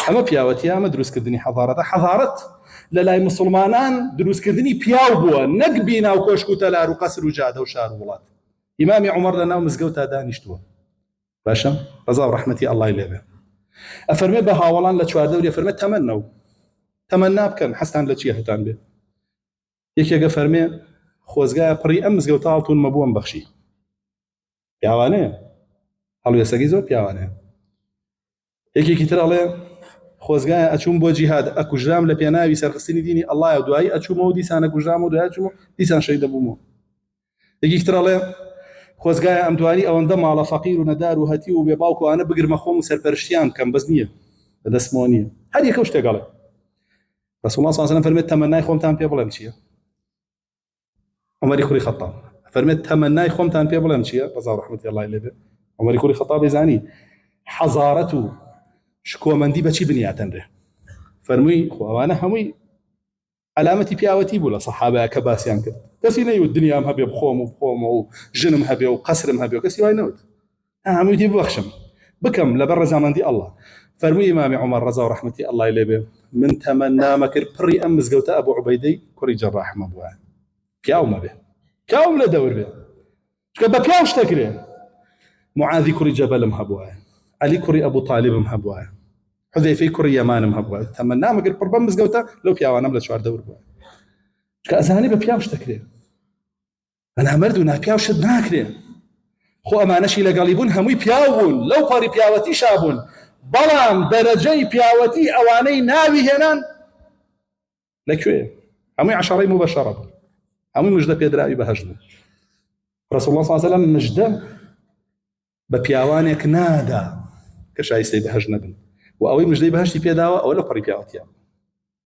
ئەمە پیاوەتیە ئەمە دروستکردنی حەضارەتە حەضارەت لە لای مسلمانان دروستکردنی پیاو بووە نەک بینا و کۆشک و تەلار و قەسر و جادە و شار و وڵات ئیمامی عمر لە ناو مزگەوتا دانیشتووە باشە ڕزا و ڕەحمەتی ئەڵای لێبێ ئەفەرمێ بە هاوڵان لە چواردەوری فەرمێ تەمەنە و تەمەنا بکەن حەستان لە چیە هەتان بێ یەکێگە فەرمێ خۆزگایە پڕی ئەم مزگەوت تاڵتون مەبووم بەخشی پیاوانەیە هەڵوێسەکەی زۆر پیاوانەیە یەکێکی تر ئەڵێ خۆزگایە ئەچووم بۆ جیهاد ئەکوژرام لە پێناوی سەرخستنی دینی ئەڵایە دوایی ئەچوومەوە دیسانە کوژرام و دوای چووم دیسان شەی دەبوومەوە یەکێکی تر ئەڵێ خۆزگایە ئەم دوانی ئەوەندە ماڵە فەقیر و نەدار و هەتی و بێ باوکوانە بگرمە خۆم و سەرپەرشتیان بکەم بەس نییە لە دەستمەوە نییە هەر یەکە شتێکەڵێ رسول الله صلی الله علیه و سلم فرمت تمنای خۆمتان پێ بڵێم چییە عمری کوری خطاب فەرمێت تەمەنای خۆمتان پێ بڵێم چییە ڕزا ڕحمەتی اللهی لێبێ عمری کوری خطابی زانی حەزارەت و شکۆمەندی بەچی بنیاتەنرێ فەرمووی خۆ ئەوانە هەمووی علامەتی پیاوەتی بوو لە سەحابەیە کە باسییان کرد کەسی نەیوت دنیام هەبێ بخۆم و بخۆمەوە و ژنم هەبێ و قەسرم هەبێ و کەسی وای نەوت هەمووی دی ببەخشم بکەم لەبەر ڕەزامەندی ئەڵڵا فەرمووی ئیمامی عومەر ڕەزا و ڕەحمەتی ئەڵڵای لێ بێ من تەمەنامە کرد پڕی ئەم مزگەوتە ئەبوو عوبەیدەی کوڕی جەراحمە بووە پیاو مەبێ پیاوم لە دەور بێ چکە بە پیاو شتە کرێ معاذی کوڕی جەبەلم هەبووە علی کوڕی ئەبوو طالبم هەبووە حذەیفەی کوڕی یەمانم هەبووە تەمەنامە کرد پڕ بەم مزگەوتە لەو پیاوانم لە چوار دەور بووە چکە ئەزانی بە پیاو شتە کرێ بەنامەرد و ناپیاو شت ناکرێ خۆ ئەمانەشی لەگەڵی بوون هەمووی پیاو بوون لەو پەڕی پیاوەتی شابوون بەڵام دەرەجەی پیاوەتی ئەوانەی ناوی هێنان لەکوێ هەمووی عشاڕی مو بەشەڕە بوو هەمووی مژدە پێدراوی بەهەش بوو ڕسول الله صلی الله مژدە بە پیاوانێک نادا کە شایستەی بەهەش نەبن و ئەوەی مژدەی بەهشتی پێداوە ئەوە لە پەڕی پیاوەتیان